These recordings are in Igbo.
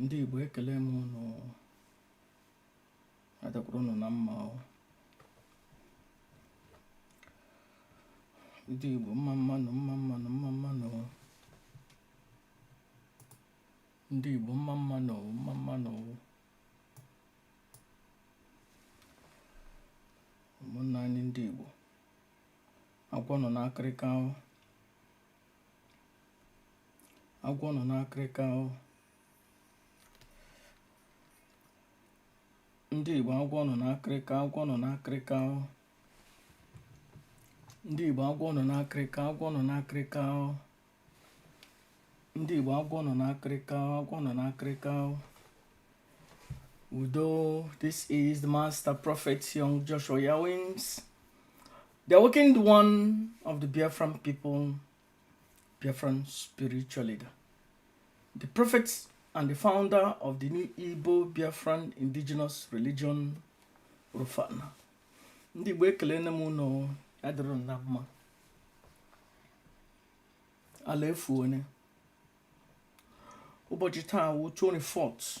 ndị Igbo ekele m ụnụ adakwuru ụnụ na mma ọ ndị Igbo mma mma nụ mma mma nụ mma mma nụ ndị Igbo mma mma nụ mma mma nụ ụmụnna anyị ndị Igbo agwọ nọ n'akịrịka o agwọ nọ n'akịrịka o ndị igbo agwọ nọ n'akịrịka agwọ nọ n'akịrịka o ndị igbo agwọ nọ n'akịrịka agwọ nọ n'akịrịka o ndị igbo agwọ nọ n'akịrịka agwọ nọ n'akịrịka o udo this is the master prophet young joshua yawins The awakened one of the Biafran people, Biafran spiritual leader. The prophet and the founder of the new Igbo Biafran indigenous religion, Rufana. Ndị Igbo ekelene m ụnụ ya dịrị na mma. Ala efuone. Ụbọchị taa wụ 24th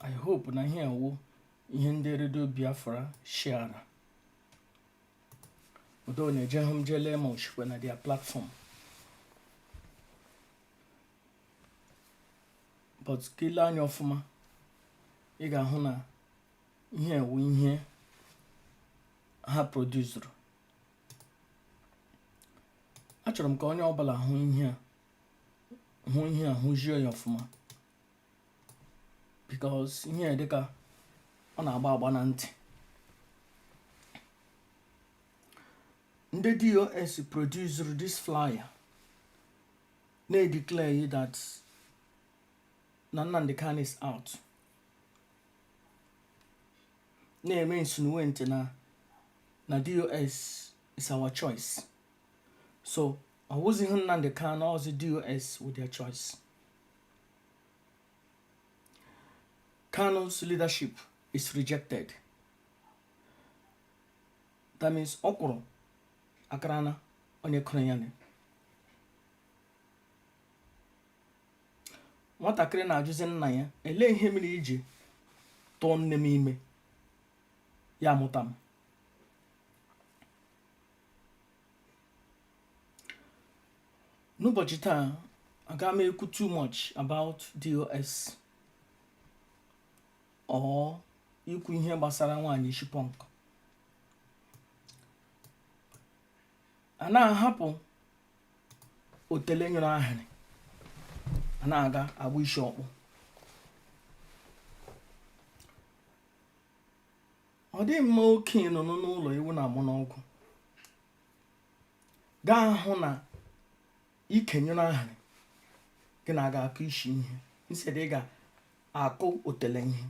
i hope na ihe a wụ ihe ndị redio biafra shiara although na ejehụ m jee lee ma o shikwa na their platform but ka i lee anya ọfụma ị ga-ahụ na ihe a wụ ihe ha produzuru achọrọ m ka onye ọbụla hụ ihe a hụzie ya ọfụma because ihe a dịka ọ na-agba agba na ntị ndị DOS produsuru this flyer na-edeclare that na Nnamdi Kanu is out na-eme insinuate na DOS is our choice so ọ wụzighị Nnamdi Kanu ọ wụzi DOS wụ their choice Kanu's leadership is rejected. That means ọkwụrụ akarana onye kụrụ ya na nwatakịrị na-ajụzi nna ya elee ihe mere i ji tụọ nne m ime ya mụta m n'ụbọchị taa aga m ekwu too much about DOS or ikwu ihe gbasara nwaanyị ishi pọnk a na-ahapụ otele nyụrụ ahịrị a na-aga agba isi ọkpọ ọ dị mma okenye nọ n'ụlọ ewu na-amụ n'ọgbụ ga-ahụ na ike nyụrụ ahịrị gị na-aga akụ isi ihe instead ị ga-akụ otele ihe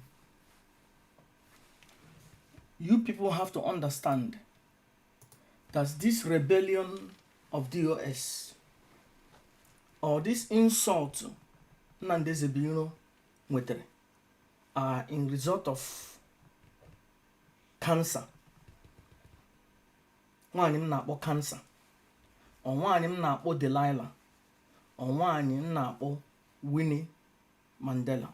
you people have to understand that this rebellion of DOS or this insult Nnamdi Ezebiro nwetara are in result of cancer nwaanyị m na-akpọ cancer or nwaanyị m na-akpọ Delilah or nwaanyị m na-akpọ Winnie Mandela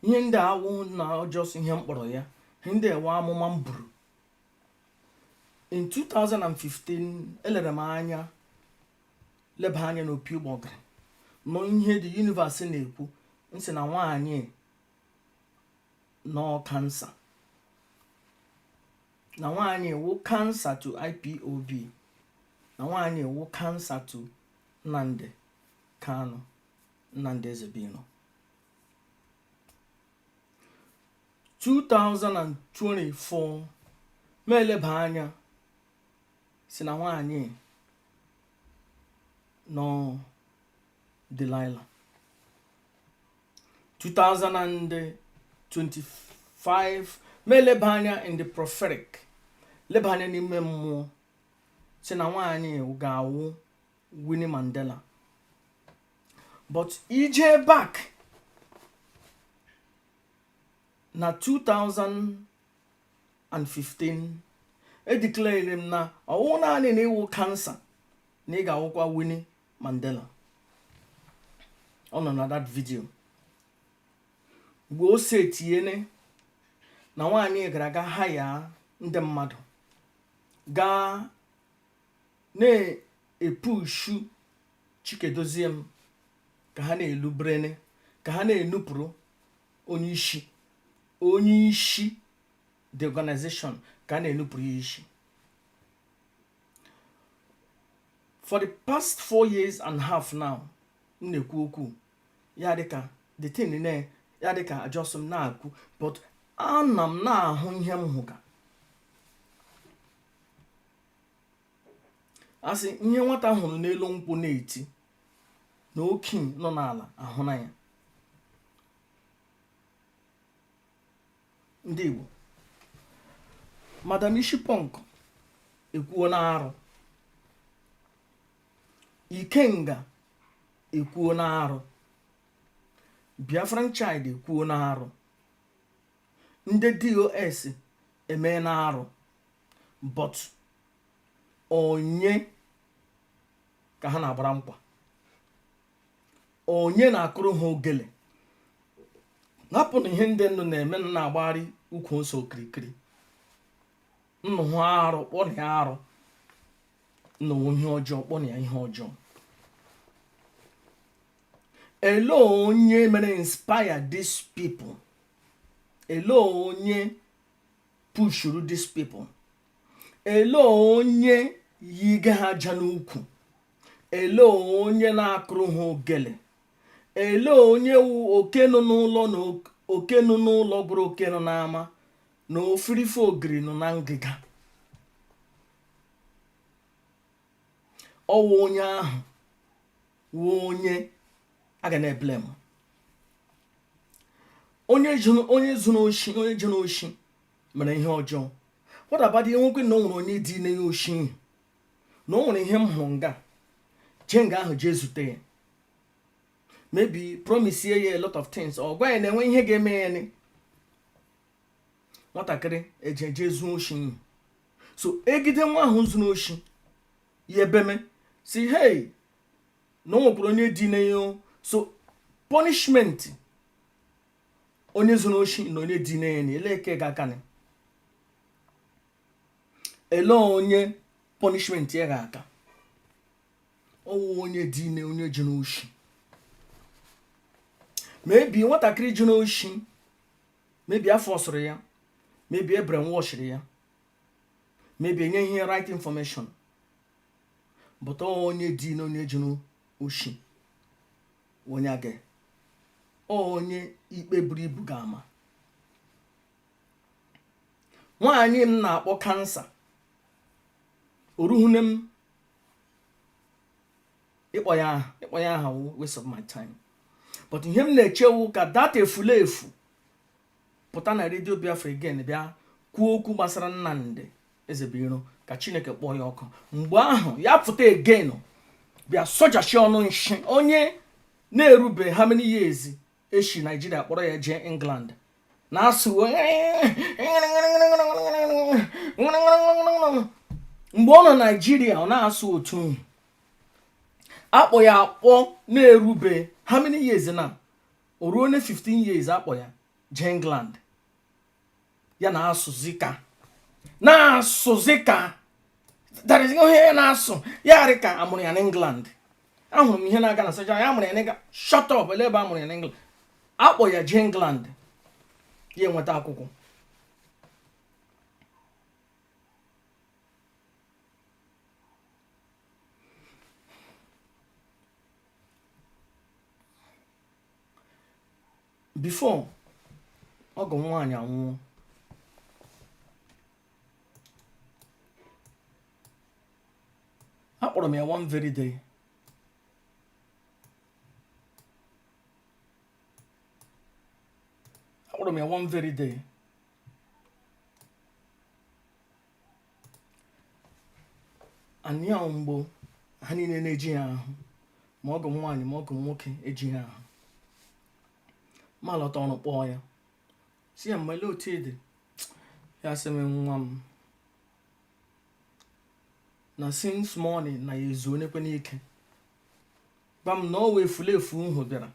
ihe ndị a wụ na ọ just ihe m kpọrọ ya ihe ndị a wụ amụma m buru in 2015 elere m anya leba anya n'opi ụgbọgịrị nụ ihe the universe na-ekwu m sị na nwaanyị nọ cancer na nwaanyị wụ cancer to IPOB na nwaanyị wụ cancer to Nnamdi Kanu Nnamdi Ezebiro 2024 m eleba anya sị na nwaanyị nọ Delilah 2025 m eleba anya in the prophetic leba anya n'ime mmụọ sị na nwaanyị ga-awụ Winnie Mandela but i jee back na 2000 2015 edeclare m na ọ wụ naanị na ị wụ cancer na ị ga-awụkwa Winnie Mandela ọ nọ na that video mgbe o si etinyene na nwaanyị gara aga hire ndị mmadụ gaa na-epushu Chika Edoziem ka ha na-elu brene ka ha na-enupụrụ onye isi onye isi the organization ka a na-enupụrụ ya isi for the past four years and half now m na-ekwu okwu ya dịka the thing na ya dịka ajọsọ m na-akwu but ana m na-ahụ ihe m hụga a sị ihe nwata hụrụ n'elu nkwụ na-eti na okenye nọ n'ala ahụna ya ndị Igbo madam isi punk ekwuona arụ ikenga ekwuona arụ biafran child ekwuona arụ ndị dos emena arụ but onye ka ha na-agbara nkwa onye na-akụrụ ha ogele hapụnụ ihe ndị nnu na-eme na na-agbagharị ukwu ose okirikiri nnụ hụ arụ kpọnụ ya arụ nnụ hụ ihe ọjọọ kpọnụ ya ihe ọjọọ ele onye mere inspire these people ele onye pushuru these people ele onye yiga ha ịja n'ukwu ele onye na-akụrụ ha ogele ele onye wụ oke nọ n'ụlọ na ok- oke nọ n'ụlọ gwara oke nọ n'ama na ofirife ogiri nọ na ngịga ọwụ onye ahụ wụ onye a ga na-eblame onye zuru onye zuru oshi onye jere oshi mere ihe ọjọọ what about ihe nwoke na o nwere onye dinye ya oshi ihe na o nwere ihe m hụrụ nga jee nga ahụ jee zute ya maybe promise ya a lot of things or gwa ya na enwe ihe ga-eme ya ni nwatakịrị ejee jee zuo oshi ihe so egide nwa ahụ zuru oshi ya ebeme sị hey na o nwekwara onye dinye ya so punishment onye zuru oshi na onye dinye ya ni ele nke ga-akanị ele onye punishment ya ga-aka ọwụ onye dinye onye zuru oshi maybe nwatakịrị zuru oshi maybe a forcịrị ya maybe e brainwashịrị ya maybe enyeghị right information but ọwụ onye dinye onye zuru oshi onye gị onye ikpe buru ibu ga-ama nwaanyị m na-akpọ kansa oruhune m ịkpọ ya aha waste of my time but ihe m na-eche wụ ka that efulefu pụta na redio biafra again bịa kwuo okwu gbasara nnamdi ezebuiro ka chineke kpọọ ya ọkụ mgbe ahụ ya pụta again bịa sojachi ọnụ nshi onye na-erube how many years e shi naijiria kpọrọ ya jee england na-asụ mgbe ọ nọ naijiria ọ na-asụ otu akpọ ya akpọ na-erube how many years na o ruona 15 years a kpọ ya jee England ya na-asụzi ka na-asụzi ka that is ihe ya na-asụ ya arị ka a mụrụ ya n'England ahụrụ m ihe na-aga na soja ya amụrụ ya n'England shut up ele ebe a mụrụ ya n'England a kpọ ya jee England ya enweta akwụkwọ before ọgọ m nwaanyị anwụọ akpọrọ m ya one very day akpọrọ m ya one very day anyhow mgbe ha niile na-ejihe ahụ ma ọgọ m nwaanyị ma ọgọ m nwoke ejihe ahụ m alọta ọrụ kpọọ ya sị ya mma ele otu ị dị ya sị m nwa m na since morning na ya ezunekwena ike gwa m na o nwe efulefu nhụ bịara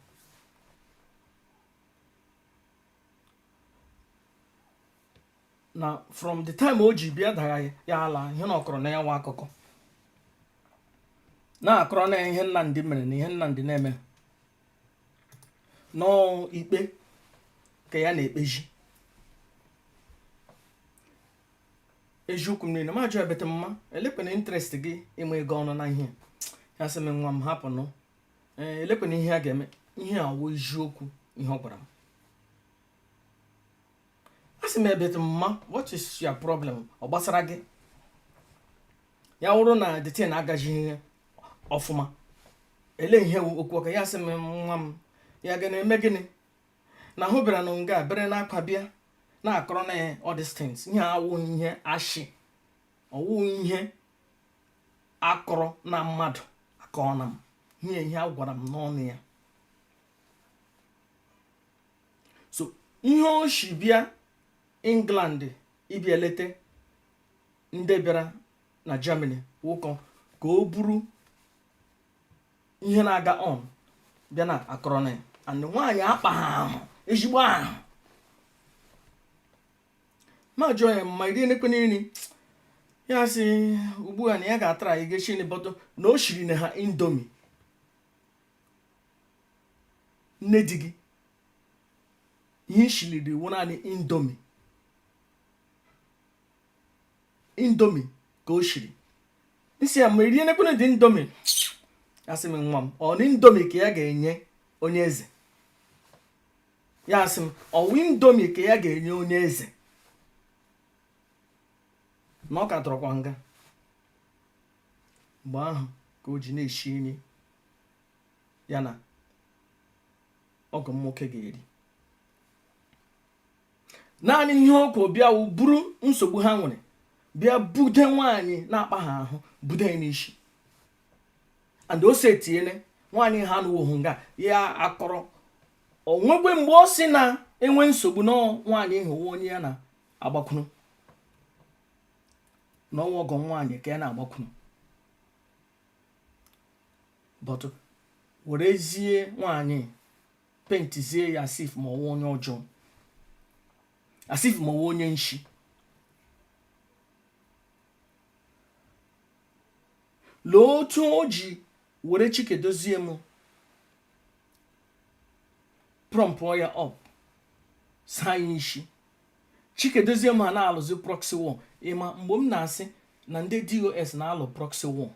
na from the time o ji bịa dara ya ala ihe na ọ kọrọ na ya nwa akụkọ na-akọrọ na ihe Nnamdi mere na ihe Nnamdi na-eme na ikpe ka ya na-ekpezi eziokwu niile m ajụ ya but mma elekwanụ interest gị ịma ego ọnụ na ihe ya sị m nwa m hapụ nụ ee elekwanụ ihe a ga-eme ihe a wụ eziokwu ihe ọ gwara m a sị m but mma what is your problem ọ gbasara gị ya wụrụ na the thing agaghị ọfụma ele ihe okwu ọka ya sị m nwa m ya ga na-eme gịnị na hụ bịara na nga bere n'akwa bịa na-akọrọ na ya all these things ihe awụ ihe ashị ọ wụ ihe akọrọ na mmadụ akọọ na m ihe ihe a gwara m n'ọnụ ya so ihe o si bịa england ịbịa eleta ndị bịara na germany wụ ka o buru ihe na-aga on bịa na akọrọ na ya and nwaanyị akpa ha ahụ ezigbo ahụ mụ ajụọ ya mma i rienekwe nri ya sị ugbu a na ya ga-atry ga eshi nri but na o shiri na ha indomie nne di gị ihe i shiliri wụ naanị indomie indomie ka o shiri m sị ya mma i rienekwenụ the indomie ya sị m nwa m ọ na indomie ka ya ga-enye onye eze ya asị m ọ wụ indomie ka ya ga-enye onye eze na ọ ka tọrọkwa nga mgbe ahụ ka o ji na-eshi nri ya na ọgọ m nwoke ga-eri naanị ihe o kwuru bịa wụ buru nsogbu ha nwere bịa bude nwaanyị na-akpa ha ahụ bude n'isi and o setiele nwaanyị ha na ọ wụ nga ya akọrọ o nwegwe mgbe ọ sị na enwe nsogbu na nwaanyị ahụ wụ onye ya na-agbakwuru na ọ wụ ọgọ nwaanyị ka ya na-agbakwuru but werezie nwaanyị paintizie ya as if ma ọ wụ onye ọjọọ as if ma ọ wụ onye nshi lee otu o ji were chika edoziem prompụọ ya up saa ya isi chika edoziem ha na-alụzi proxy war ị ma mgbe m na-asị na ndị dos na-alụ proxy war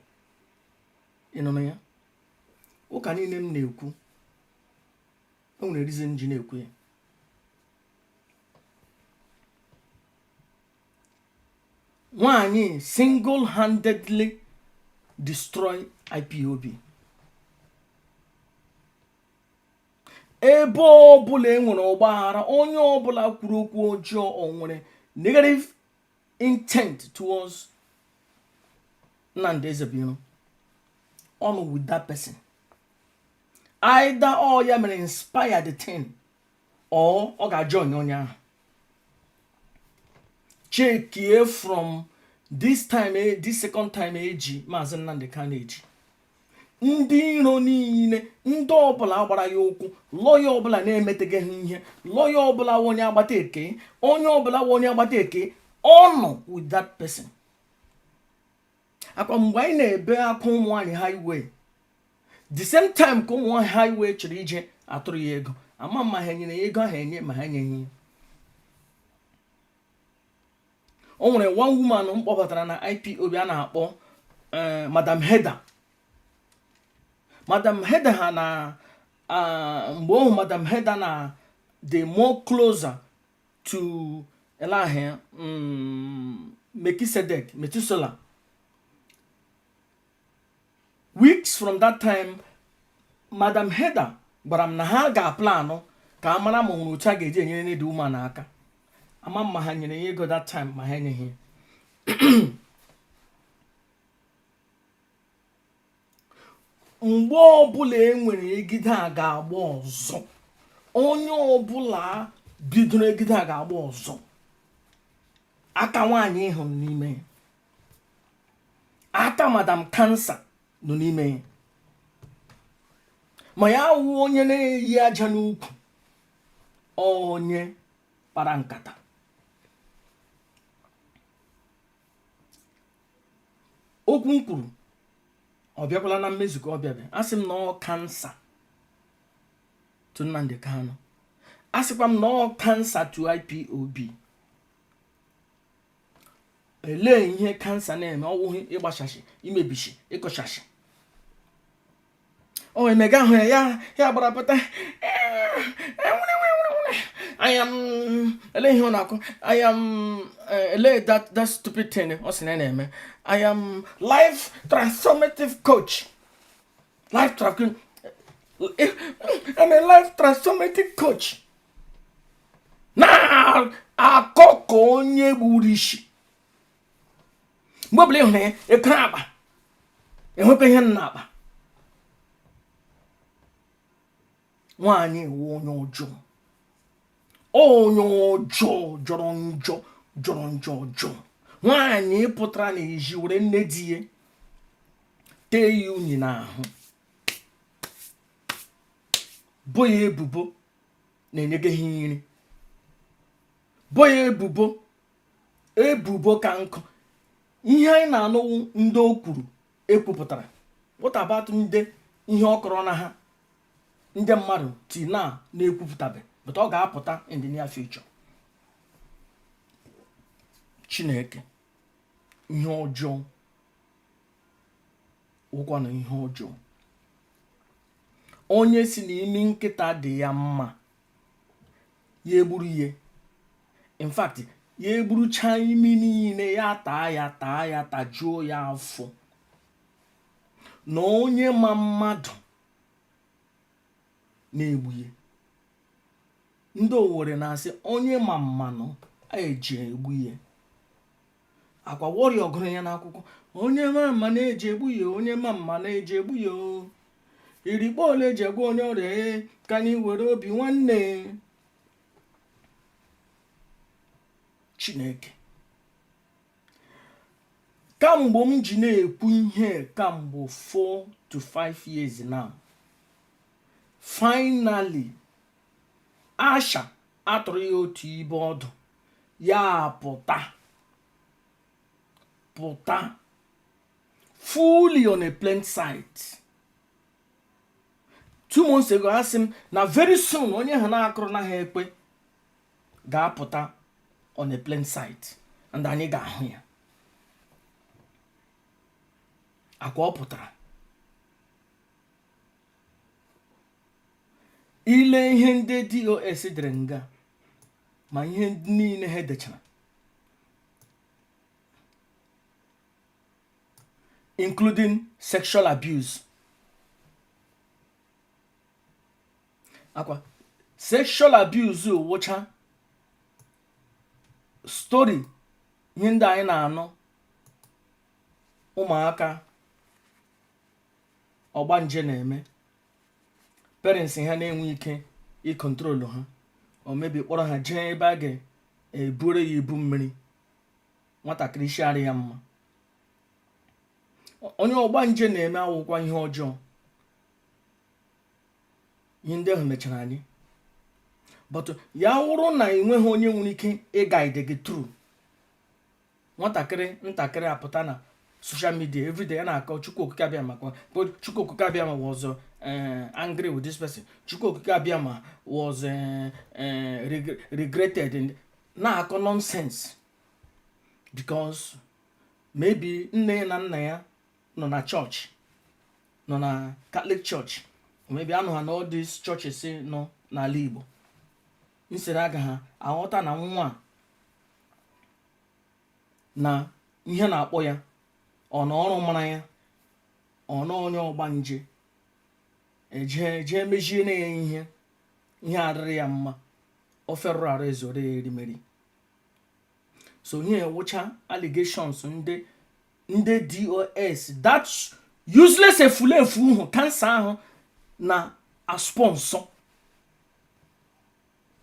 ị nụnụ ya ụka niile m na-ekwu o nwere reason m ji na-ekwu ya nwaanyị single handedly destroy ipob ebe ọbụla e nwere ọgbaghara onye ọbụla kwuru okwu ọjọọ o nwere negative intent towards Nnamdi Ezebiro ọ nọ with that person either ọ ya mere inspire the thing or ọ ga-join onye ahụ chekie from this time eh, this second time eji maazị Nnamdi Kanu eji ndị iro niile ndị ọbụla gbara ya ụkwụ lọya ọbụla na-emetaghị ihe lọya ọbụla wụ onye agbata eke onye ọbụla wụ onye agbata eke ọ nọ with that person akwa mgbe anyị na-ebe akwa ụmụ nwaanyị highway the same time ka ụmụ nwaanyị highway chọrọ ije atụrụ ya ego ama m ma ha nyere ya ego ahụ enye ma ha enyeghị ya o nwere one woman m kpọbatara na ipob a na-akpọ eh, madam Heather madam Heather ha na ah, mgbe ọhụ madam Heather na-adị more closer to elahe mm, Melchizedek Methuselah weeks from that time madam Heather gwara m na ha ga-aplanụ ka a mara ma ọ nwere otu a ga-eji enyere the woman aka ama m ma ha nyere ya ego that time ma ha enyeghị mgbe ọbụla e nwere egide a ga-agba ọzọ onye ọbụla bidoro egide a ga-agba ọzọ aka nwaanyị ahụ nọ n'ime ya aka madam cancer nọ n'ime ya ma ya wụ onye na-eyi aja n'ukwu onye kpara nkata okwu m kwuru ọ bịakwala na mmezu ka ọ bịabeghị asị m na ọ cancer to Nnamdi Kanu asịkwa m na ọ cancer to IPOB elee ihe cancer na-eme ọwụghị ịgbasasị imebisi ịkụsasị o wee mega ahụ ya ya ya gbara pụta ana m ele ihe ọ na-akọ ana m ele that that stupid thing ọ sị ọ na-eme I am life transformative coach life transformative I'm a life transformative coach na-akọ ka onye gburu isi mgbe ọbụla ị hụrụ ya ekwe akpa enwekwa ihe ị na-akpa nwaanyị ị wụ onye ọjọọ onye ọjọọ jọrọ njọ jọrọ njọ ọjọọ nwaanyị pụtara n'ezi were nne di ya tee ya unyi n'ahụ bo ya ebubo na enyeghị ya nri bo ya ebubo ebubo ka nkụ ihe anyị na-anụ wụ ndị o kwuru ekwupụtara what about ndị ihe ọ kọrọ na ha ndị mmadụ ti na na-ekwupụtabe but ọ ga-apụta in the near future chineke ihe ọjọọ wụkwanụ ihe ọjọọ onye sị na imi nkịta dị ya mma ya gburu ya in fact ya gburuchaa imi niile ya taa ya taa ya tajuo ya afọ na onye ma mmadụ na-egbu ya ndị owere na-asị onye ma mmanụ eji egbu ya akwa warrior gụrụ ya n'akwụkwọ onye ma mmanụ eji egbu ya onye ma mmanụ eji egbu ya o. irikpo ole eji egbu onye ọrịa ee ka anyị were obi nwanne chineke kamgbe m ji na-ekwu ihe kamgbe 4 to 5 years now finally asha atụrụ ya otu ibe ọdụ ya pụta pụta fully on a plain sight two months ago asị m na very soon onye ha na-akụrụ na ha ekwe ga-apụta on a plain sight and anyị ga-ahụ ya akwa ọ pụtara ile ihe ndị dos dere nga ma ihe niile ha dechara including sexual abuse akwa sexual abuse wụcha story ihe ndị anyị na-anụ ụmụaka ọgbanje na-eme parents ha na-enwe ike ịcontrol ha or maybe kpọrọ ha jee ebe a ga-eburu ya ibu mmiri nwatakịrị isi arị ya mma onye ọgbanje na-eme awụkwa ihe ọjọọ ihe ndị ahụ mechara anyị but ya wụrụ na ị nweghị onye nwere ike ịguide gị through nwatakịrị ntakịrị apụta na social media everyday ya na-akọ chukwu okike abịama chukwu okike abịama was eh, angry with this person chukwu okike abịama was eh, eh, regretted na-akọ nonsense because maybe nne ya na nna ya nọ na church nọ na catholic church maybe anọ ha na all these churches nọ n'ala igbo nsere aga ha aghọta na nwa na ihe na-akpọ ya or na ọrụ mara ya or na onye ọgbanje ejee jee mezie na ya ihe ihe adịrị ya mma ofe rụrụ arụ ezore ya erimeri so ihe a wụcha allegations ndị ndị DOS that useless efulefu ahụ cancer ahụ na-asponsor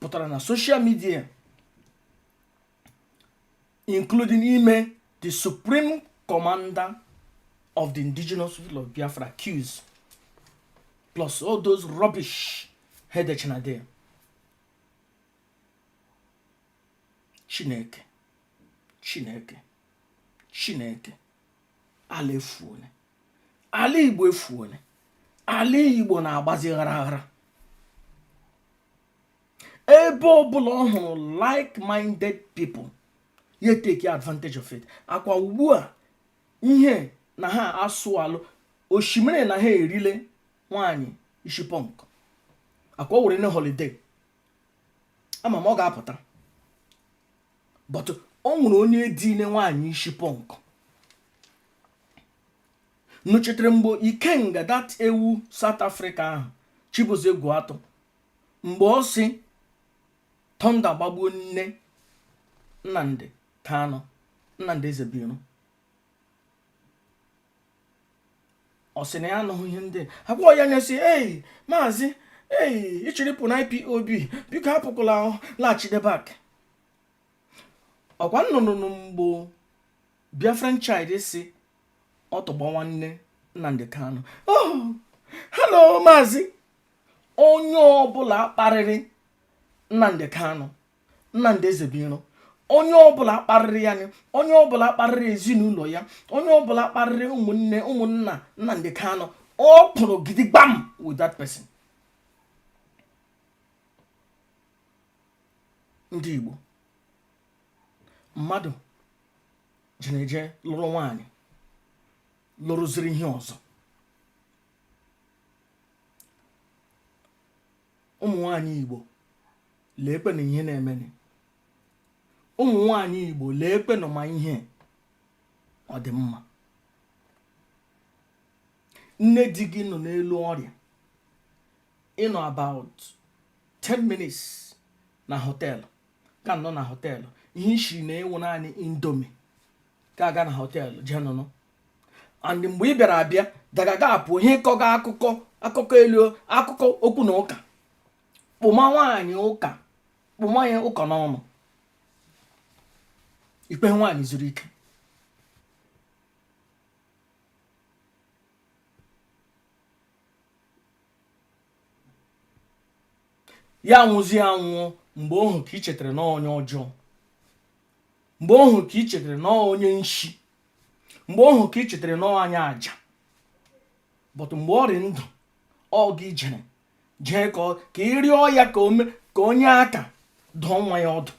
butara na social media including ime the supreme commander of the indigenous people of biafra accuse plus all those rubbish ha edechana there chineke chineke chineke ala efuole ala igbo efuole ala igbo na-agbazi gharaghara ebe ọbụla ọ hụrụ like-minded people ya take advantage of it akwa ugbu a ihe na ha asụ alụ osimiri na ha erile nwanyị ishi punk akwa o were na holiday ama m ọ ga-apụta but o nwere onye edine nwaanyị isi punk unu chetere mgbe Ikenga that ewu South Africa ahụ Chibueze gwu atụ mgbe ọ sị thunder gbagbuo nne Nnamdi Kanu Nnamdi Ezebuiro ọ sị na ya anụghị ihe ndị agwa ya ya sị ei maazị ei ị chọrọ ịpụ na IPOB biko apụkwala laghachite back ọkwa unu nọ mgbe biafran child sị ọtụ gbawaa nne nnamdị kanụ oh, hello maazị onye ọbụla kparịrị nnamdị kanụ Nnamdi Ezebiro onye ọbụla kparịrị ya onye ọbụla kparịrị ezinụlọ ya onye ọbụla kparịrị ụmụnna Nnamdi Kanu ọ kwụrụ gidigbam with that person ndị Igbo mmadụ jiri eje lụrụ nwaanyị lụrụziri ihe ọzọ ụmụ nwanyị Igbo leekwenụ ihe na-emeni ụmụ nwanyị igbo leekwenụ ma ihe ọ dị mma nne di gị nọ n'elu ọrịa ị nọ about 10 minutes na hotel ka nọ na hotel ihe isi na-ewu naanị indomie ka aga na hotel jee nụnụ and mgbe ị bịara abịa dagaga apụ ihe ịkọga akụkọ elu akụkọ okwu na ụka kpụma nwaanyị ụka kpụma ya ụka n'ọnụ i kwehe nwaanyị zuru ike ya nwụzie anwụọ mgbe ọhụ ka ị chetara na onye ọjọọ mgbe ọhụ ka ị chetara na onye nshi mgbe ọhụ ka ị chetara na onye aja but mgbe ọ rị ndụ ọ gị jere jee ka ị rịọ ya ka o nye aka dụọ nwa ya ọdụ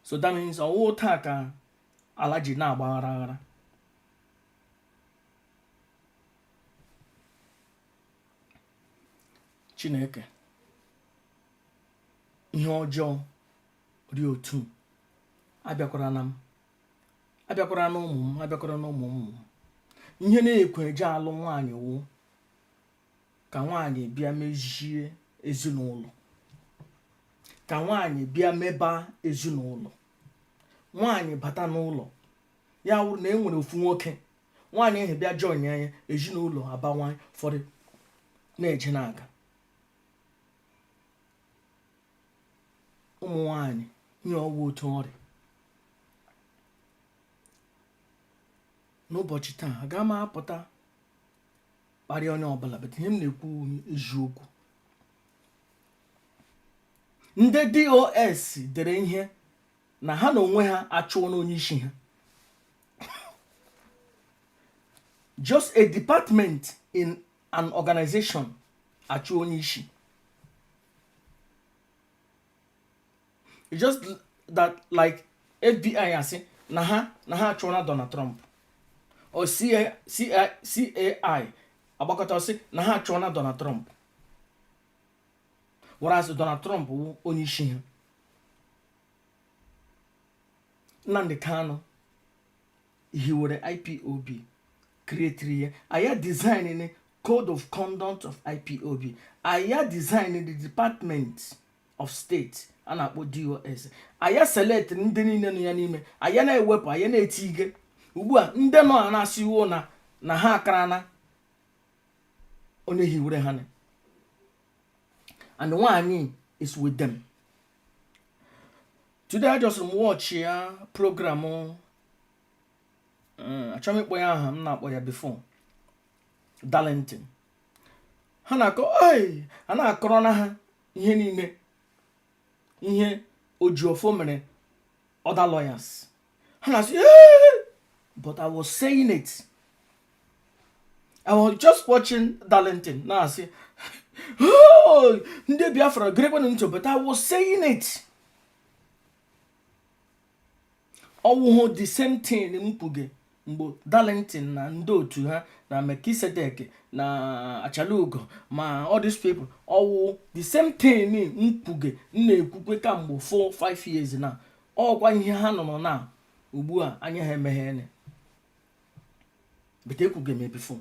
so that means ọ wụ taa ka ala ji na-agba aghara aghara chineke ihe ọjọọ rị otu a abịakwara na m abịakwara na ụmụ m abịakwara na ụmụ ụmụ m ihe na-ekwe e ji alụ nwaanyị wụ ka nwaanyị bịa mezie ezinụlọ ka nwaanyị bịa meba ezinụlọ nwaanyị bata n'ụlọ ya wụrụ na e nwere ofu nwoke nwaanyị ahụ bịa join ya ezinụlọ abawanye ụfọdụ na-eje na-aga ụmụ nwanyị nye ọgwụ otu ọ rị n'ụbọchị taa aga m apụta kparịa onye ọbụla but ihe m na-ekwu eziokwu ndị DOS dere ihe na ha n'onwe ha achụọna onye isi ha just a department in an organization achụọ onye isi just that like fbi asị na ha achụọna donald trump or cai agbakọta asị na ha achụọna donald trump whereas donald trump wụ onye isi ha nnamdi kanu hiwere ipob createri ya aya design the code of conduct of ipob aya design the department of state a na-akpọ dos aya select ndị niile nọ ya n'ime aya na-ewepụ aya na-etige ugbu a ndị nọ a na-asị iwu na ha akarana onye hiwere ha na and nwaanyị is with them today i just watch ya program eh, achọghị m ịkpọ ya aha m na-akpọ ya before Darlington ha na-akọ a na-akọrọ na ha ihe niile ihe Ejiofor mere other lawyers ha na-asị but I was saying it I was just watching Darlington na-asị oh, ndị Biafra gerekwanụ ntị but I was saying it ọ wụhụ the same thing m kwuge mgbe Darlington na ndị otu ha na Melchizedek na Achalugo ma all these people ọ wụ the same thing m kwuge m na-ekwukwe kamgbe 4 5 years na ọ wụkwa ihe ha nọ na ugbu a anya ha emeghene but ekwuge m ya before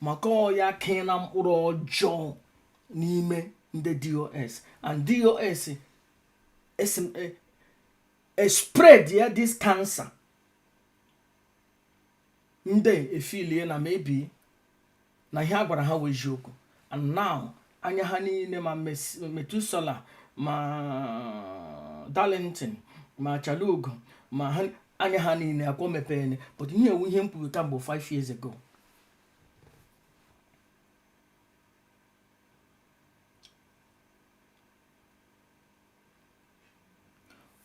maka ọ ya kee na mkpụrụ ọjọọ n'ime ndị dos and dos e, e spread ya this cancer ndị efeelie na maybe na ihe a gwara ha wụ eziokwu and now anya ha niile ma methuselah ma darlington ma achalugo ma ha anya ha niile akwọ mepene but ihe a wụ ihe m kwuru kamgbe 5 years ago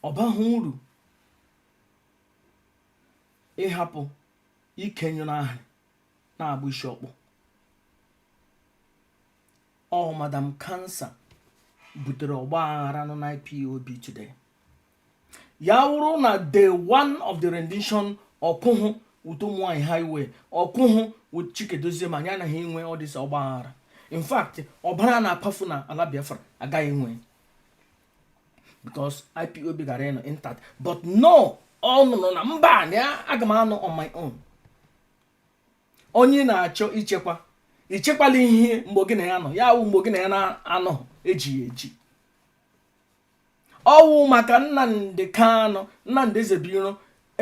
ọ bahụ uru ịhapụ ike nyụrụ ahụ na-agba isi ọkpọ ọ madam Cancer butere ọgba aghara nọ na IPOB today ya wụrụ na day one of the rendition ọ kwụhụ with ụmụ nwaanyị highway ọ kwụhụ with Chika Edoziem anyị anaghị enwe all this ọgba aghara in fact ọbara na-akwafu na ala Biafra agaghị enwe because IPOB gara ịnọ intact but no ọ nụrụ na mba na aga m anọ on my own onye ị na-achọ ichekwa ichekwala ihe mgbe gị na ya nọ ya wụ mgbe gị na ya na-anọ ejighị eji ọ wụ maka Nnamdi Kanu Nnamdi Ezebiro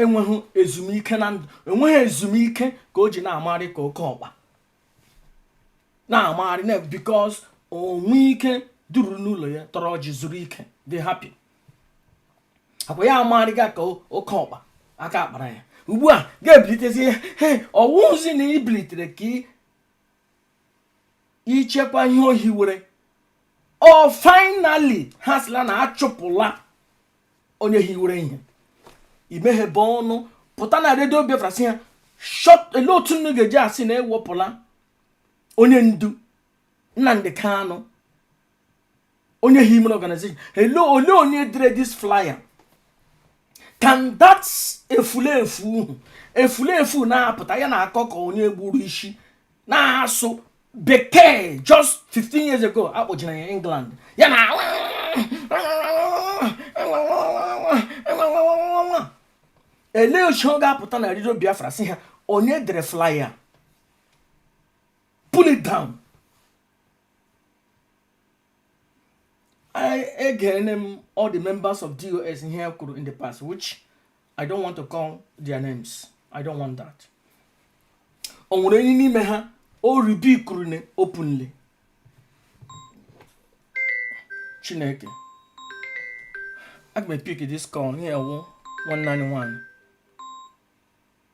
enweghị ezumike na ndụ enweghị ezumike ka o ji na-amarị ka oke ọkpa na-amarị because o nwe ike duru n'ụlọ ya tọrọ ọjị zuru ike dị happy akwa ya amarịga ka oke ọkpa aka akpara ya ugbu a ga-ebilitezi ya ọ wụzi na i bilitere ka i chekwa ihe o hiwere o finally ha sịla na achụpụla onye hiwere ihe i meghebe ọnụ pụta na redio Biafra sị ha ele otu unu ga-eji asị na ewepụla onye ndu Nnamdi Kanu onye hiwere organization hello ole onye dere this flyer can that efulefu efulefu na-apụta ya na-akọ ka onye gburu isi na-asụ bekee just 15 years ago akpọjere ya England ya na ele ochi ọ ga-apụta na redio Biafra sị ha onye dere flyer pull it down I again um, all the members of DOS in here could in the past, which I don't want to call their names. I don't want that. O nwere onye n'ime ha o rebukuru ne openly. Chineke. Aga m pick this call here wụ 191.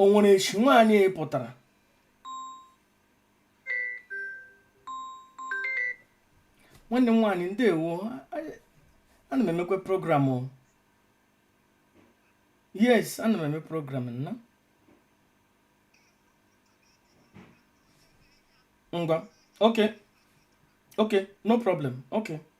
o nwere echi nwaanyị a pụtara nwanne m nwaanyị ndewo ana m emekwa program o yes ana m eme program nna ngwa okay okay no problem okay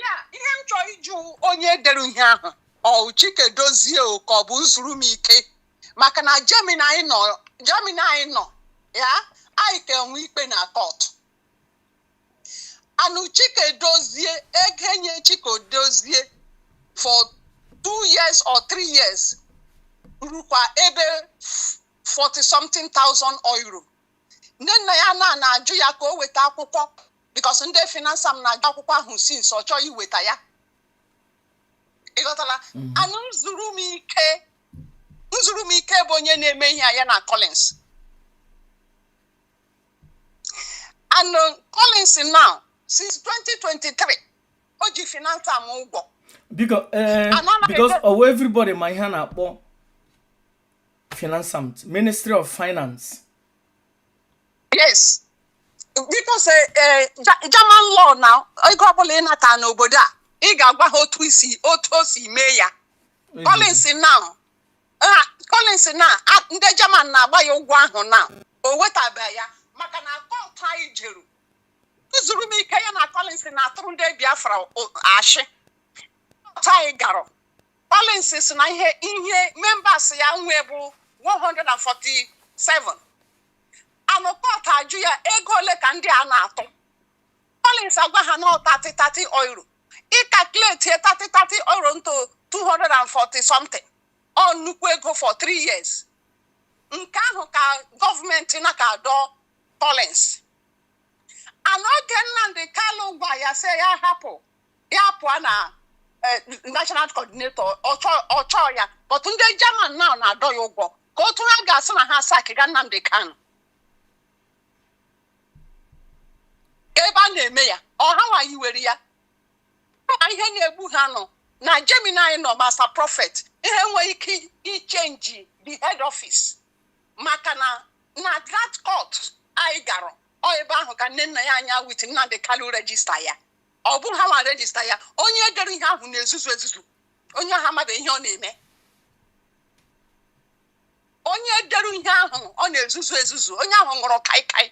yeah ihe m chọrọ ịjụ onye dere ihe ahụ ọ Chika Edozie o ka ọ bụ Nzurumike maka na Germany anyị nọ ya anyị ka enwe ikpe na court and Chika Edozie ego enye Chika Edozie for two years or three years rukwa ebe 40 something thousand euro ndị na ya nọ na-ajụ ya ka o weta akwụkwọ because ndị Finanzamt na-ajụ akwụkwọ ahụ since ọ chọọ iweta ya ịghọtala mhm. and Nzurumike Nzurumike bụ onye na-eme ihe ya na Collins and uh, Collins now since 2023 o ji Finanzamt ụgwọ biko eh, because ọwa everybody ma ihe a na-akpọ Finanzamt ministry of finance yes because eh, eh, Ja- German law na ego ọbụla ị nata n'obodo a ị ga-agwa ha otu i si otu o si mee ya Collins now ah, Collins now ah, ndị German na-agba ya ụgwọ ahụ na o wetabe ya maka na court anyị jeru Nzurumike ya na Collins na-atụrụ ndị Biafra o- ashị court anyị gara Collins sị na ihe ihe members ya nwe bụ 147 and court ajụ ya ego ole ka ndị a na-atụ Collins agwa ha na ọ 30 30 euro ị calculate 30 30 euro into 240 something ọ nnukwu ego for 3 years nke ahụ ka gọọmenti na-aka adọ Collins and oge Nnamdi Kanu gwa ya sị ya hapụ ya pụọ na eh, national coordinator ọ chụọ ya but ndị German now na-adọ ya ụgwọ ka otu ha ga-asị na ha sakiga Nnamdi Kanu ebe a na-eme ya ọ hanwa hiwere ya ma ihe na-egbu ha nọ na Germany anyị nọ Master Prophet ihe nwere ike ichenji the head office maka na na that court anyị gara ọ ebe ahụ ka Nnennaya Anya with Nnamdi Kanu register ya ọ bụ hanwa register ya onye dere ihe ahụ na-ezuzu ezuzu onye ahụ amaghị ihe ọ na-eme onye dere ihe ahụ ọ na-ezuzu ezuzu onye ahụ ṅụrụ kaikai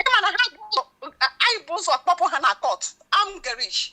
ịma na ha anyị bụ ụzọ kpọpụ ha na court Amtsgericht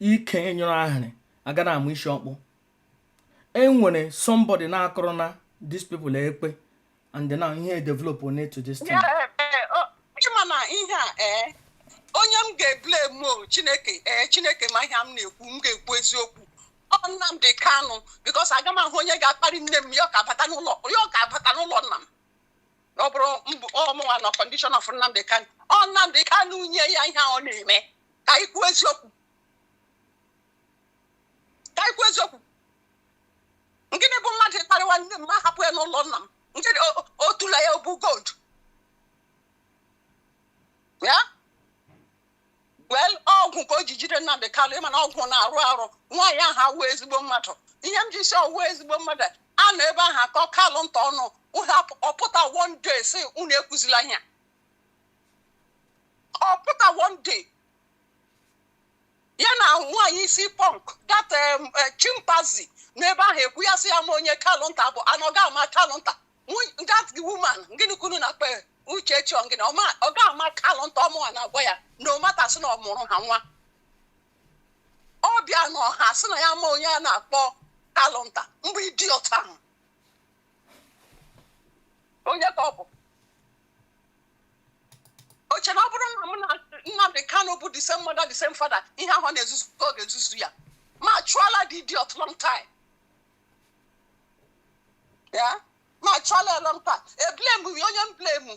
ike nyụrụ ahịrị a ga na-ama isi ọkpọ enwere somebody na-akụrụ na these people ekpe and then ihe develop on it to this time mana ihe a ee onye m ga-eblemu chineke ee chineke ma ihe m na-ekwu m ga-ekwu eziokwu ọ Nnamdi Kanu because aga m ahụ onye ga-akparị nne m ya ka abata n'ụlọ nna m na ọ bụrụ ọ mụnwa na condition of Nnamdi Kanu ọ Nnamdi Kanu nye ya ihe a ọ na-eme ka anyị kwuo eziokwu ka anyị kwuo eziokwu ngịnị bụ mmadụ ịkparịwa nne m m hapụ ya n'ụlọ nna m ngịnị o- o- otula ya ọ bụ gold ya well ọgwụ ka o ji jide Nnamdị Kanụ ị ma na ọgwụ na-arụ arụ nwaanyị ahụ awụ ezigbo mmadụ ihe m ji sị ọ wụ ezigbo mmadụ a nọ ebe ahụ akọ kalụ nta ọnụ ọ pụta one day sị unu ekwuzila ihe ọ pụta one day ya na nwaanyị isi punk that eh, chimpanzee n'ebe ahụ ekwu ya sị ya ma onye kalụnta bụ and ọ ga-ama kalụnta that woman ngịnị ka unu na-akpọ ya Uchechi ọ ngịnị ọ ga-ama kalụ nta ọ mụwa na-agwa ya no matter sị na ọ mụrụ ha nwa ọ bịa na ọha sị na ya ma onye a na-akpọ kalụ nta mgbe idiot ahụ onye ka ọ bụ o che na ọ bụrụ na mụ na Nnamdi Kanu bụ the same mother the same father ihe ahụ na-ezuzu ọ ga-ezuzu ya m achụọla the idiot long time ya m achụọla ya long time eblame m ya onye m blame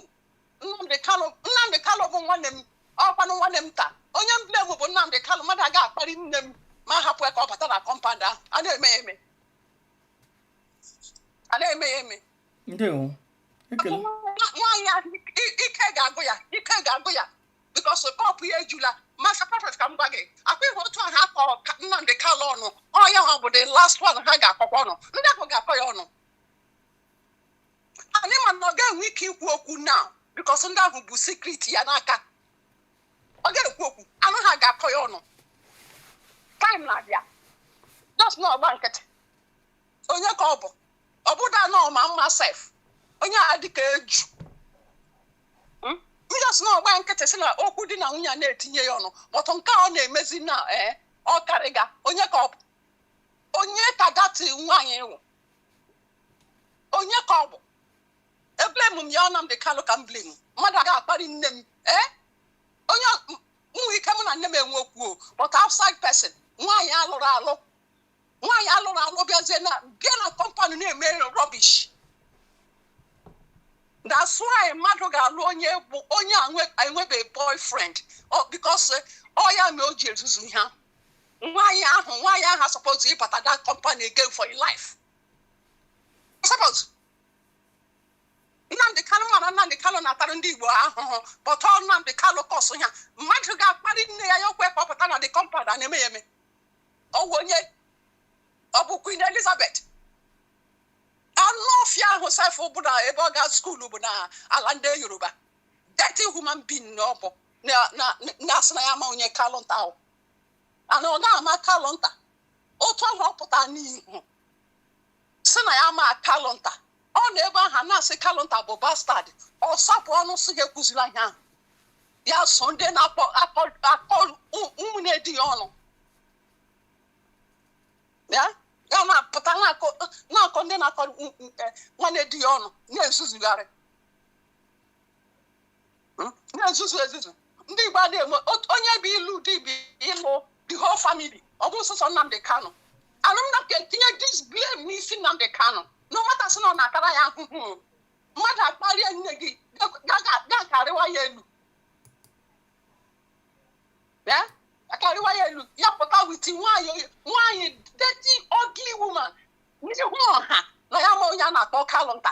nnamdị kalụ nnamdị kalụ bụ nwanne m ọ kwanụ nwanne m ta onye m blame bụ nnamdị kalụ mmadụ aga akparị nne m m ahapụ ya ka ọ bata na compound ahụ a na-eme ya eme a na-eme ya eme ndewo nwaanyị ahụ i- ike ga-agụ ya ike ga-agụ ya because cup ya ejula Master Prophet ka m gwa gị akwa ihe otu ahụ akọ nnamdị kalụ ọnụ ọ ya ga-abụ the last one ha ga-akọkwa ọnụ ndị ahụ ga-akọ ya ọnụ anyị ma na ọ ga-enwe ike ikwu okwu now because ndị ahụ bu secret ya n'aka ọ ga-ekwu okwu and ha ga-akọ ya ọnụ time na-abịa just na ọ gba nkịtị onye ka ọ bụ ọ bụda na ọ ma mma sef onye a dịka eju hmm? just na ọ gba nkịtị sị na okwu di na nwunye na-etinye ya ọnụ but nke ọ na-emezi na ee eh, ọ karịga onye ka ọ bụ onye ka that nwaanyị wụ onye ka ọ bụ eblame m ya ọ Nnamdi Kanu ka m blame mmadụ aga akparị nne m ee eh? e nwe ike mụ na nne m enwe okwu o but outside person nwaanyị alụrụ alụ nwaanyị alụrụ alụ bịazie na bịa na compound na-eme rubbish that's why mmadụ ga-alụ onye bụ onye enwebe boyfriend because ọ ya mee o ji ezuzu ha nwaanyị ahụ nwaanyị ahụ asuppose ịbata that compound again for your life asuppose Nnamdị Kalụ mana Nnamdị Kalụ na-atara ndị Igbo ahụhụ but ọ Nnamdị Kalụ cause ya mmadụ ga-akparị nne ya ya o kwe ka ọ pụta na the compound a na-eme ya eme ọ wụ onye ọ bụ Queen Elizabeth anụ ọfịa ahụ sef bụ na ebe ọ ga school bụ na ala ndị Yoruba dirty human being na ọ bụ na-asị na ya ma onye kalụ nta ahụ and ọ ga-ama kalụ nta otu ahụ ọ pụta n'ihu sị na ya ma kalụnta ọ nọ ebe ahụ na-asị kalụnta bụ bastard ọ sapụ ọnụ sị ha ekwuzila ihe ahụ ya so ndị na-akọ akọ ụmụnne di ya ọnụ ya ya na-apụta na-akọ ndị na-akọ nwanne di ya ọnụ na-ezuzugharị hmm? na-ezuzu ezuzu ndị Igbo adịghị eme onye bụ ịlụ di bụ ịlụ the whole family ọ bụ sọsọ Nnamdi Kanu anụmna ka etinye this blame n'isi Nnamdi Kanu no matter sị na ọ na-atara ya ahụhụ mmadụ akparịa nne gị ga-akarịwa ya elu akarịwa ya elu ya pụta with nwaanyị nwaanyị dirty ugly woman n'ihu ọha na ya ma onye a na-akpọ kalụnta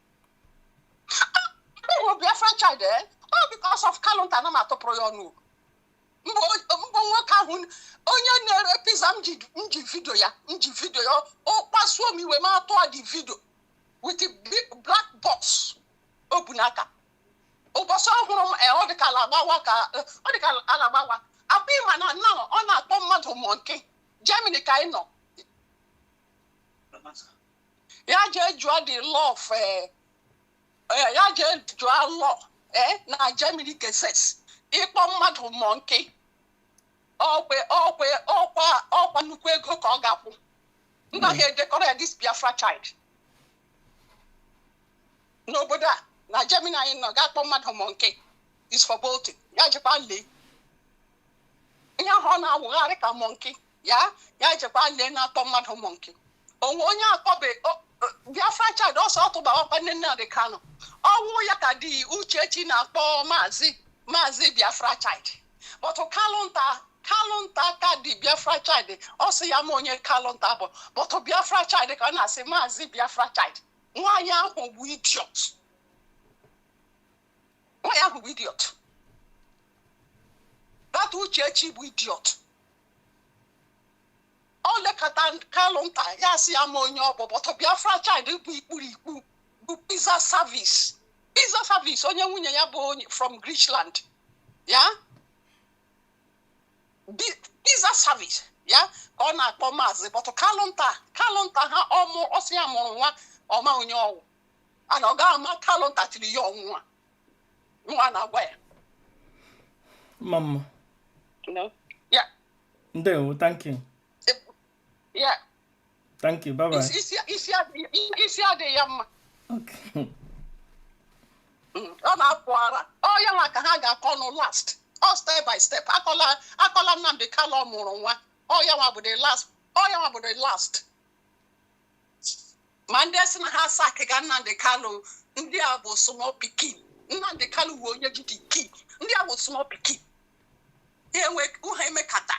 Akpịrị Biafra child eh? all because of kalụnta na m atụpụrụ ya ọnụ mbụ nwoke ahụ onye na-ere pizza m ji vidio ya m ji vidio ya ọ kpasuo m iwe m atụọ the vidio with the big black box o bu n'aka ụbọchị ọ hụrụ m eh, ọ dịka ala agbawa ka eh, ọ dịka ala agbawa akpa ịma na na ọ na-akpọ mmadụ monkey Germany ka anyị nọ ya jee jụọ the law of eh, eh, ya jee jụọ law eh, na Germany Gesetz ịkpọ mmadụ monkey ọkwe ọkwe ọkwa ọkwa nnukwu ego ka ọ ga-akwụ nna ha edekọrọ ya this Biafra child n'obodo a na Germany anyị nọ ga-akpọ mmadụ monkey is verboten ya jekwa lee ihe ahụ ọ na-awụgharị ka monkey ya ya jekwa lee na-akpọ mmadụ monkey o nwee onye akpọbe Biafra child ọsọ ọ tụbawakwa nne Nnamdi Kanu ọnụ ya ka the Uchechi na-akpọ maazị maazị Biafra child but kalụnta kalụnta ka the Biafra child ọ sị ya ma onye kalụnta bụ but Biafra child ka ọ na-asị maazị Biafra child nwaanyị ahụ bụ idiot nwaanyị ahụ bụ idiot that Uchechi bụ idiot o lekata kalụnta ya sị ya ma onye ọ bụ but Biafra child bụ ikpuru ikpu bụ pizza service pizza service onye nwunye ya bụ onye from Griechenland ya Bi- pizza service ya ka ọ na-akpọ maazị but kalụnta kalụnta ha ọmụ ọ sị ya mụrụ nwa ọ ma onye ọ wụ and ọ ga-ama kalụnta tiri ya ọ mụnwa nwa na-agwa ya mma mma no yeah ndewo thank you yeah thank you bye bye isi isi- isi adịghị- isi adịghị ya mma okay Mm, ọ na-apụ ara ọ ya nwa ka ha ga-akọ ọnụ last ọ step by step akọla akọla Nnamdi Kanu ọ mụrụ nwa ọ ya nwa bụ the last ọ ya nwa bụ the last ma ndị sị na ha sack ga Nnamdi Kanu ndị a bụ small pikin Nnamdi Kanu bụ onye ji the key ndị a bụ small pikin ha enwe ha emekata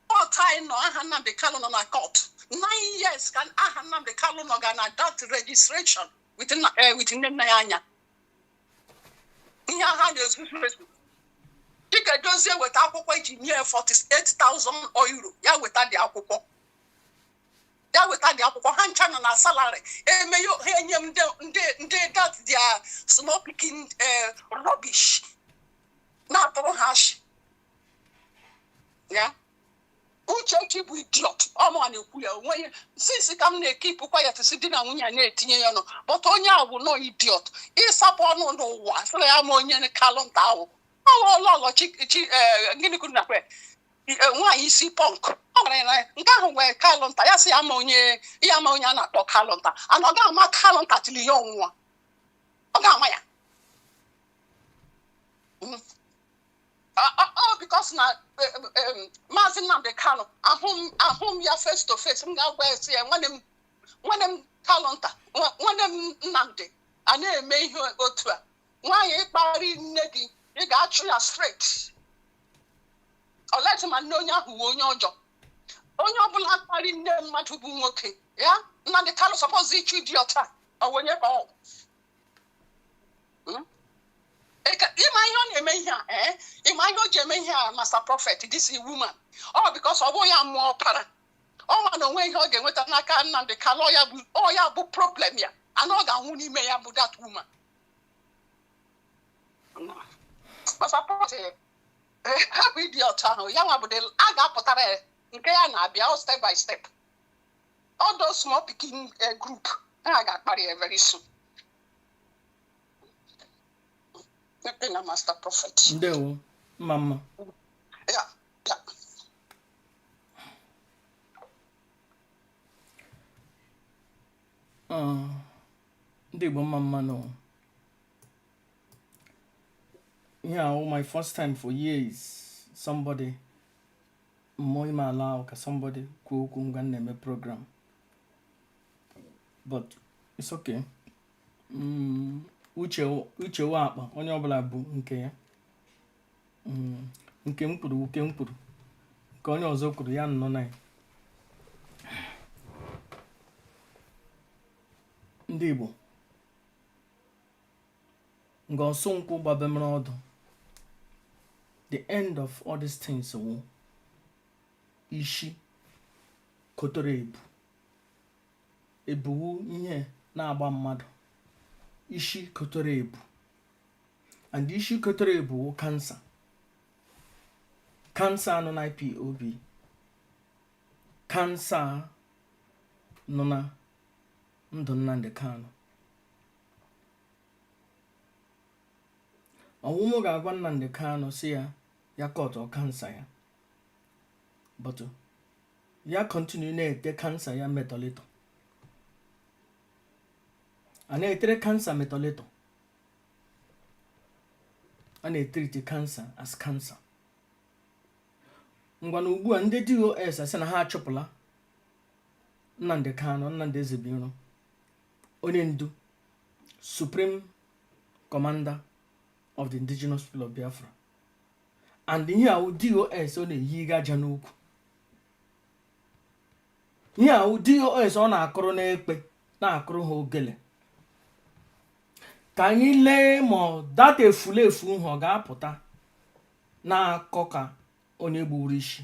court anyị nọ aha Nnamdi Kanu nọ na court nine years ka aha Nnamdi Kanu nọ ga na that registration with nna eh, with nne nna ya anya ihe ha na-ezuzu ezu dịka Dozie weta akwụkwọ e ji nye 48,000 euro ya weta dị akwụkwọ ya weta dị akwụkwọ ha ncha nọ na salary eme ya ha enye m ndị ndị ndị that their small pikin eh, rubbish na-atụrụ ha ashị ya Uchechi bụ idiot ọ mụwa na-ekwu ya onwe ya since ka m na-ekeep quiet sị di na nwunye a na-etinye ya ọnụ but onye ahụ bụ nọọ idiot ịsapụ ọnụ n'ụwa sịrị ya ma onye kalụnta wụ ọghọlọghọ chi chi eh, gịnị kwuru na kwe nwaanyị isi punk ọ gwara ya na nke ahụ wụ kalụnta ya sị ya ma onye ya ma onye a na-akpọ kalụnta and ọ ga-ama kalụnta till ya anwụọ ọ ga-ama ya hmm. ọ because na e, e, e, maazị Nnamdi Kanu ahụ m ya face to face m ga-agwa ya sị ya nwanne m nwanne m kalụnta nwanne m Nnamdi a na-eme ihe otu a nwaanyị kparị nne gị ị ga-achụ ya straight ọleti ma nne onye ahụ wụ onye ọjọọ onye ọbụla kparị nne mmadụ bụ nwoke ya Nnamdi Kanu suppose ịchụ idiot a onye ka ọ hmm? ị ma ihe ọ na-eme ihe a eh? ị ma ihe o ji eme ihe a Master Prophet this woman ọ because ọ bụ ya mụọ ọpara ọ ma na o nwe ihe ọ ga-enweta n'aka Nnamdi Kanu ọ ya bụ problem ya and ọ ga-anwụ n'ime ya bụ that woman hapụ idiot ahụ ya nwa bụdị a ga-apụtara ya nke ya na-abịa ọ step by step all those small pikin eh, group ha ga-akparị ya very soon Mmepe na Master Prophet ndewo mma mma ya ya Ah, ndị Igbo mma mma nụ ihe a wụ my first time for years somebody mụ ime allow ka somebody kwuo okwu ngwa m na-eme program but it's okay Mm, uche uche wụ akpa onye ọbụla bu nke ya Mm, nke m kwuru wụ nke m kwuru nke onye ọzọ kwuru ya nọ na ya ndị Igbo nga ọsọ nkwụ gbabemere ọdụ the end of all these things wụ isi kotere ebu ebu wụ ihe na-agba mmadụ ishi kotere ebu and ishi kotere ebu wụ cancer cancer nọ na IPOB cancer nọ na ndụ Nnamdi Kanu ọ wụ m ga-agwa Nnamdi Kanu sị ya kọtụ cancer ya but ya continue na-ete cancer ya metọlịtọ a na-etere cancer metọlịtọ a na-etriti cancer as cancer ngwa na ugbu a ndị DOS asị na ha achụpụla Nnamdi Kanu Nnamdi Ezebuiro onye ndu supreme commander of the indigenous people of Biafra and ihe ahụ DOS ọ na-eyiga ịja n'ụkwụ ihe ahụ DOS ọ na-akụrụ n'ekpe na-akụrụ ha ogele ka anyị lee ma that efulefu ahụ ọ ga-apụta na-akọ ka onye gburu isi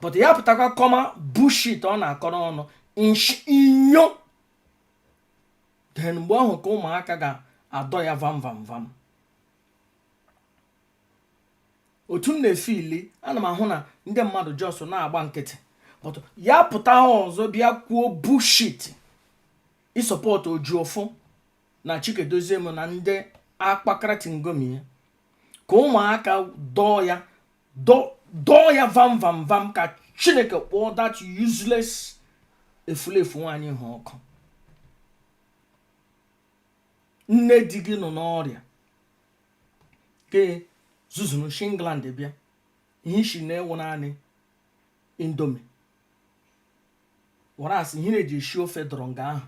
but ya pụtakwa kọma bullshit ọ na-akọrọ ọnụ inyo then mgbe ahụ ka ụmụaka ga-adọ ya vam vam vam otu m na-efili ana m ahụ na ndị mmadụ just na-agba nkịtị but ya pụta ọzọ bịa kwuo bullshit ịsọpọtụ Ejiofor na Chika Edoziem na ndị akpakara tingomi ya ka ụmụaka dọọ ya dọọ ya vam vam vam ka chineke kpọọ that useless efulefu nwaanyị ahụ ọkụ nne di gị nọ n'ọrịa ke zuzuru shi England bịa ihe ishi na-ewu naanị indomie whereas ihe na-eji esi ofe dọrọ nga ahụ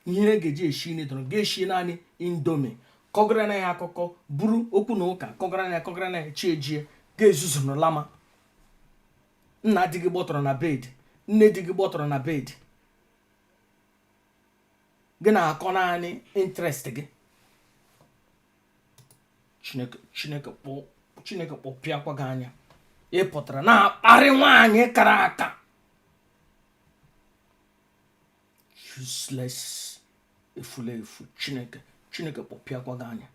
ihe e ga-eji eshi nri dọrọ ga-eshi naanị indomie kọgara na ya akụkọ buru okwu na ụka kọgara na ya kọgara na ya chi ejie ga-ezuzuru lama nna di gị gbọtọrọ na bed nne di gị gbọtọrọ na bed gị na-akọ naanị interest gị chineke chineke kpọ chineke kpọpịakwa gị anya ị pụtara na-akparị nwaanyị kara aka useless efula efu chineke chineke kpọpịakwa gị anya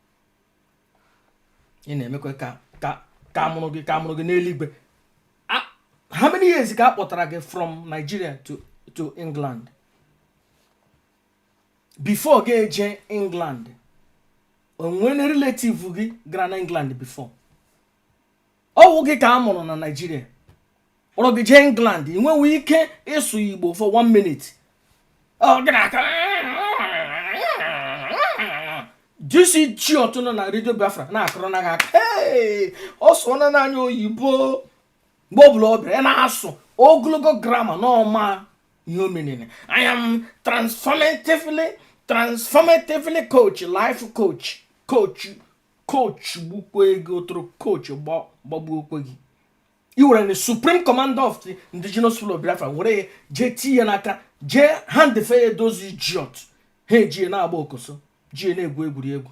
ị na-emekwa ka ka ka a mụrụ gị ka a mụrụ gị n'eluigwe how many years ka a kpọtara gị from Nigeria to to England before gị eje England o nwere relative gị gara na England before ọ wụ gị ka a mụrụ na naijiria kpọrọ gị jee england ị nweghị ike ịsụ igbo for one minute disi chi ọtụ nọ na redio biafra na-akụrụ na ha aka ọ sụọla naanị oyibo mgbe ọ bụla ọ bịara ya na-asụ ogologo grama na ọ maghị ihe ọ meanịrị i am transformatively transformatively coach life coach coach coach gbukwe gị otoro coach gbagbuokwe gị i were na supreme commander of the indigenous people of biafra were ya jee tii ya n'aka jee handfe ya those idiot ha ejie na-agba okoso jie na-egwu egwuregwu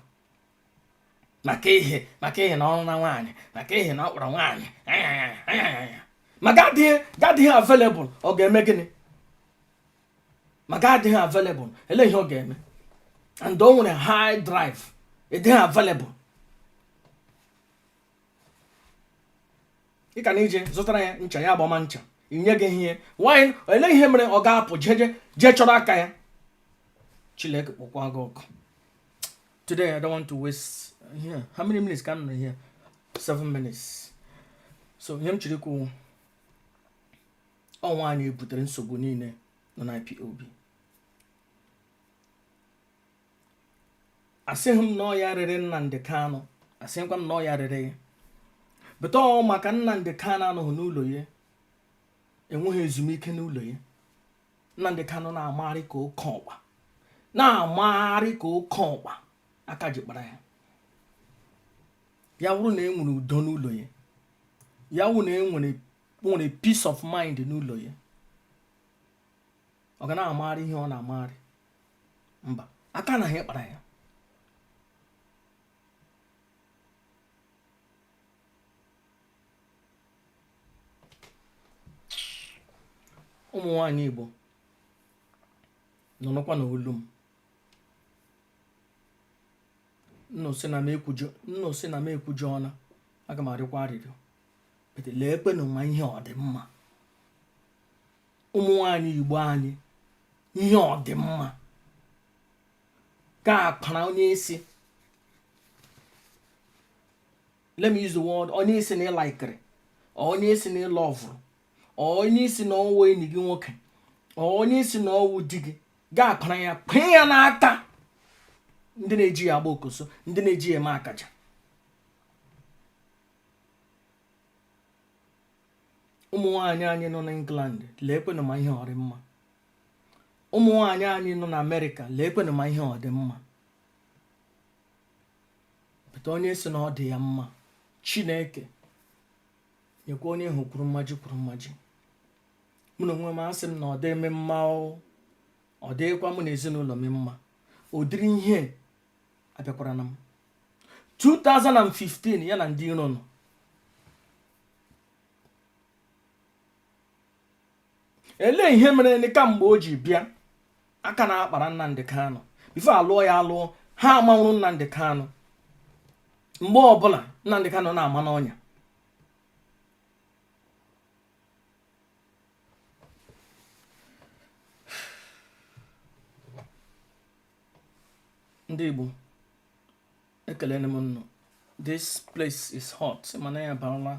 maka ihe maka ihe na ọrụ na nwaanyị maka ihe na ọ kpọrọ nwaanyị ma gị adịghị available ọ ga-eme gịnị ma gị adịghị available ele ihe ọ ga-eme and o nwere high drive ị dịghị available ị ka na ije zụtara ya ncha ya agbama ncha i nyeghị ihe nwanyị ele ihe mere ọ ga-apụ jeje jee chọrọ aka ya Chileke kpọkwa gị ọkụ today i don't want to waste here how many minutes ka m nọ here seven minutes so ihe m chiri kwuo ọ nwaanyị butere nsogbu niile nọ na IPOB asịghị m na ọ ya rere Nnamdi Kanu asịghịkwa m na ọ ya rere ya but ọ maka Nnamdi Kanu anọghị n'ụlọ ya enweghị ezumike n'ụlọ ya Nnamdi Kanu na-amagharị ka oke ọkpa na-amagharị ka oke ọkpa aka ji kpara ya ya wụrụ na e nwere udo n'ụlọ ya ya wụ na e nwere nwere peace of mind n'ụlọ ya ọ ga na-amagharị ihe ọ na-amagharị mba aka anaghị akpara ya ụmụ nwanyị Igbo nụrụkwanụ olu m unu sị na m ekwujọ unu aga m arịọkwa arịrịọ leekwenụ ma ihe ọ dị mma ụmụ nwanyị igbo anyị ihe ọ dị mma ga-akpara onye ị sị let me use the word onye ị sị na ị laịkịrị or onye ị sị na ị lọvụrụ or onye ị sị na ọ wụ enyi gị nwoke or onye ị sị na ọ wụ di gị ga-akpara ya kwee ya n'aka ndị na-eji ya agba okoso ndị na-eji ya eme akaja ụmụ nwaanyị anyị nọ na England leekwenụ ma ihe ọ rị mma ụmụ nwaanyị anyị nọ na Amerịka leekwenụ ma ihe ọ dị mma pụta onye sị na ọ dị ya mma Chineke nyekwa onye ahụ kwuru mmaji kwuru mmaji mụ na onwe m asị m na ọ dị m mma ọ dịkwa mụ na ezinụlọ m mma ụdịrị ihe a bịakwara na m 2015 ya na ndị iro nọ elee ihe merenụ kamgbe o ji bịa aka na-akpara Nnamdi Kanu before a lụọ ya alụọ ha amanwụrụ Nnamdi Kanu mgbe ọbụla Nnamdi Kanu na-ama n'ọnya ndị Igbo ekelene m nnụ this place is hot ị ma na anyị abaala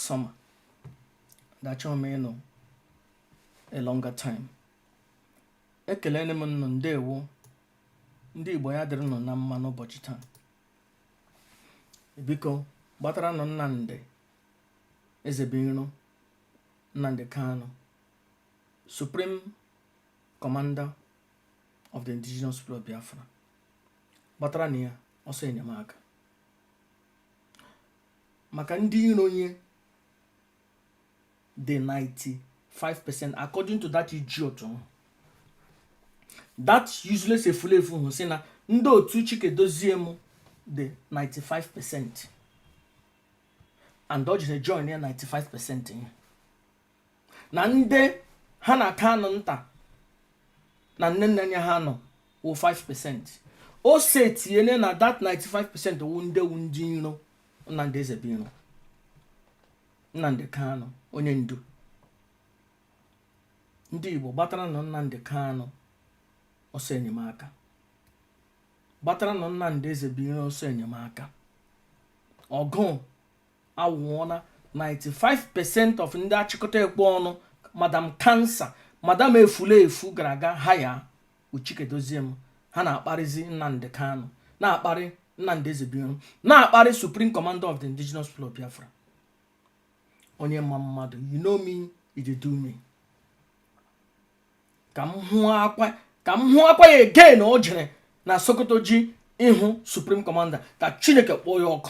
summer dachọọ m ịnọ a longer time ekelene m nnụ ndewo ndị Igbo ya dịrịnụ na mma n'ụbọchị taa biko gbataranụ Nnamdi Ezebiro Nnamdi Kanu Supreme Commander of the indigenous people of Biafra gbataranụ ya ọsọ enyemaka maka ndị iro ya dị 95% according to that idiot ahụ that useless efulefu ahụ sị na ndị otu Chika Edoziem dị 95 percent and o jiri join ya 95 percent ya na ndị ha na Kanunta na Nnennaya ha nọ wụ 5% o setiene na that 95% wụ ndị wụ ndị iro Nnamdi Ezebiro Nnamdi Kanu onye ndu ndị igbo gbataranụ Nnamdi Kanu ọsọ enyemaka gbataranụ Nnamdi Ezebiro ọsọ enyemaka ọgụ anwụọla 95% of ndị achịkọta ekwe ọnụ madam kansa madam efulefu gara aga ha ya uchikedozie m ha na-akparịzi nnamdị kanụ na-akparị nnamdị ezebuiro na-akparị supreme commander of the indigenous people of biafra onye ma mmadụ you know me you dey do me ka m hụkwa ya again o jere na sokoto ji ịhụ supreme commander ka chineke kpọọ ya ọkụ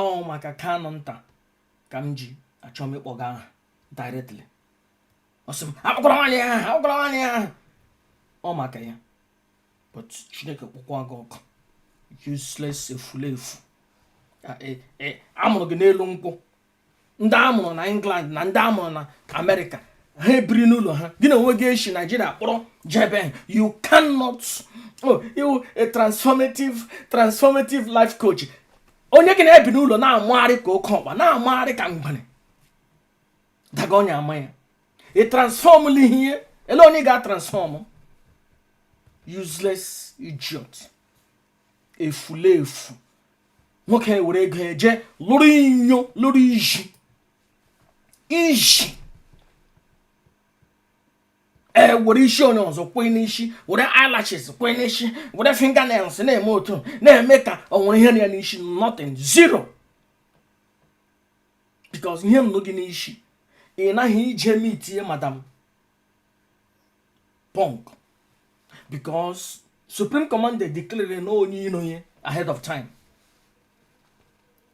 ọ maka kanụ nta ka m ji achọ m ịkpọ gị aha directly ọ sị m akpọkwala nwaanyị aha akpọkwala nwaanyị aha ọ maka ya but chineke kpọkwa gị ọkụ useless efulefu e, e, a mụrụ gị n'elu nkwụ ndị a mụrụ na england na ndị a mụrụ na amerịka ha ebiri n'ụlọ ha gị n'onwe gị eshi naijiria kpọrọ jebe you cannot oh, you a transformative transformative life coach onye gị na-ebi n'ụlọ na-amagharị ka oke ọkpa na-amagharị ka mgbere daga onye ama ya ị transfọmụla ihe ele onye ị ga-atransfọmụ useless idiot efulefu nwoke were ego eje lụrụ inyo lụrụ iji iji ee were isi onye ọzọ kwee n'isi were eyelashes kwee n'isi were fingernails na-eme otu na-eme ka o nwere ihe nọ ya n'isi nothing zero because ihe nọ gị n'isi ị naghị ije mitie madam punk because supreme commander declare na onye iro ya ahead of time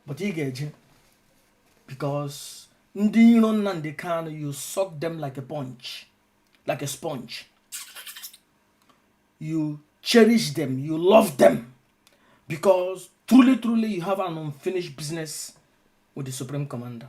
but ị ga-eje because ndị iro Nnamdi Kanu you suck them like a punch like a sponge you cherish them you love them because truly truly you have an unfinished business with the supreme commander